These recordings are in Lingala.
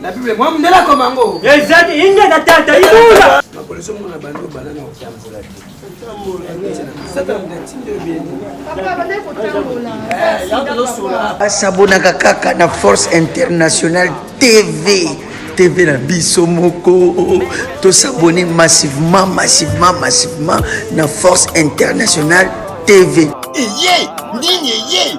Na Bible mwa mundele akoma yango. Ezali inge na tata ibula. Makoleso mona bando bana na otambola te. basabonaka kaka na force internationale tv tv na biso moko tosabone massivement massivement massivement na force internationale tv eye nini eye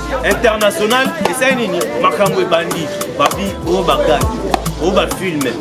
international esali nini makambo ebandi babi oyo bagage oyo bafilme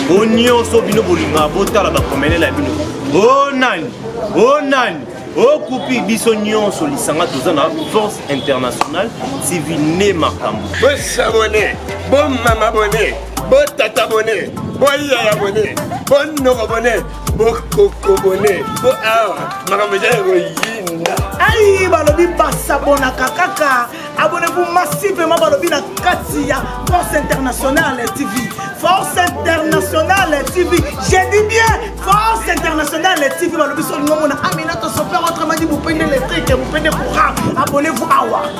o nyonso bino bolingaka botala bakomelela ya bino o nani o nani okupi biso nyonso lisanga toza na force internationale civil ne makambo bosabone bomama bone botata bone boyaya bone bonoko bone bokokobone po awa makambo eza ya koyinda ai balobi basabonaka kaka abonnevu massivement balobi na kati ya force internationale tv force internationale tv je dis bien force internationale tv balobi solingo mona aminata sopeur autrement dit mupende letrike mupende courant abonnevu awa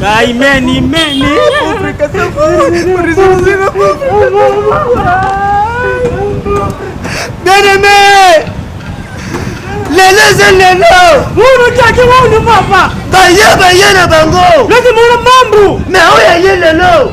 Kaimeni meni. Bien-aimé lelo eza lelo olotaki wonu papa baye baye na bango loti mona mambu me oyo aye lelo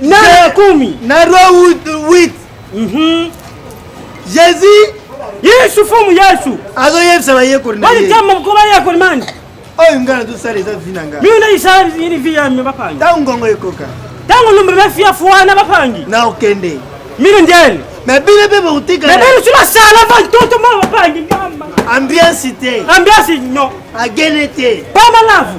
Na komi. Na roi 8. Mhm. Jésus. Yesu fumu Yesu. Azo yebisa ba yekoli na ye. Bali tamba ko ba yekoli mani. Oyo ngana to sala eza vina nga. Mimi na isa ni vi ya mi bapanga. Tango ngongo ekoka. Tango lumbe ba fia fuana bapangi. Na okende. Mimi ndele. Mais bino mpe bokotika mais bino ti basala bantoto ma bapangi ngamba ambiance te ambiance non agene te pamalavu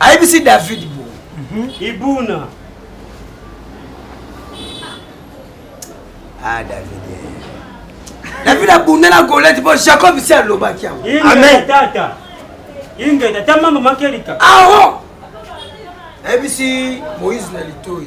ayebisi david bo ibuna ah david david abunda na golete mpo jacob si alobaki yango amen tata ingeta ta mama makelika aho nayebisi moïse na litoi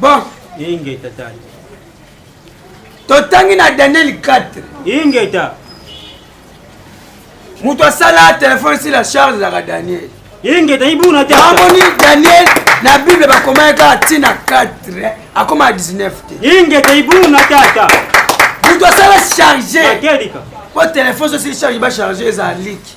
bon ingeta tata totangi na daniel 4 ingeta moto asala telefone si la charge ezalaka daniel ingeta ibuna te amoni daniel na bible bakomaki kaka ntina 4 akoma 19 te ingeta ibuna tata moto asala charge po telefone sosi charge bacharge eza liki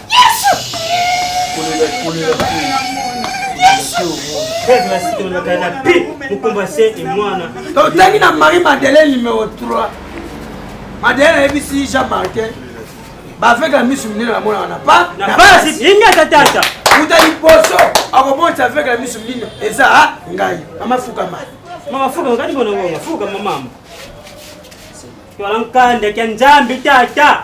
totangi na marie madeleine numero 3 madeleine ayebisi jean martin baveke ya misu minene namonaka na pa na basi yenge ata tata uta liboso akomonisa aveke ya misu minene eza ngai mama fukama mama fukama kati bona ngonga fukama mama twala nkanda kya nzambe tata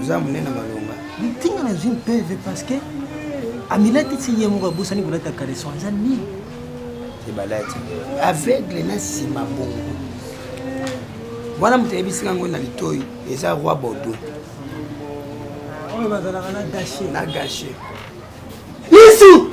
oza monene malonga ntinga nazwi mpeve parce que amilati ti ye moko abosani kolata caleson eza nini ebalati aveugle na nsima bongo wana moto ayebisi yango na litoi eza roi bordeaux oyo bazalaka na gache na gache yesu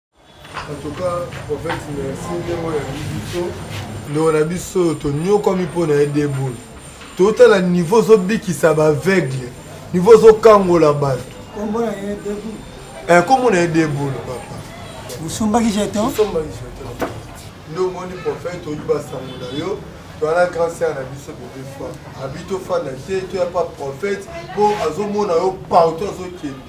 En tout cas, prophète, merci ndenge oyambi biso. Ndeko na biso oyo tonyokwami mpo na ye deboul totala niveau ozobikisa baaveugle niveau ozokangola bato nkombo na ye deboul eh, papa osombaki jeton nde omoni prophète oyi basango na yo toyana grand sere na biso bebe fois abi tofanda te toya pa prophète mpo azomona yo partout azokende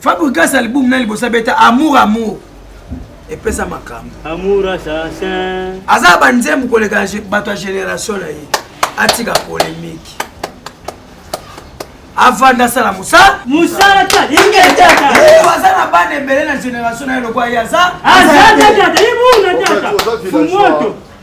Fabrigas album na liboso abeta amour amour epesa makambo aza banzembu koleka bato ya génération na ye atika polémique avanda asala mosala mosala ta yenge tata eh, aza na bana ebele na génération na ye lokola ye aza aza tata ye muna tata fumoto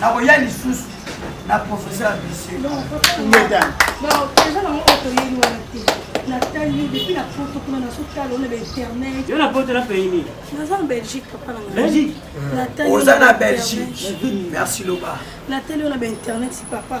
nakoya lisusu na professeur ambitieux oza na belgique merci loba natali yo na bainternet papa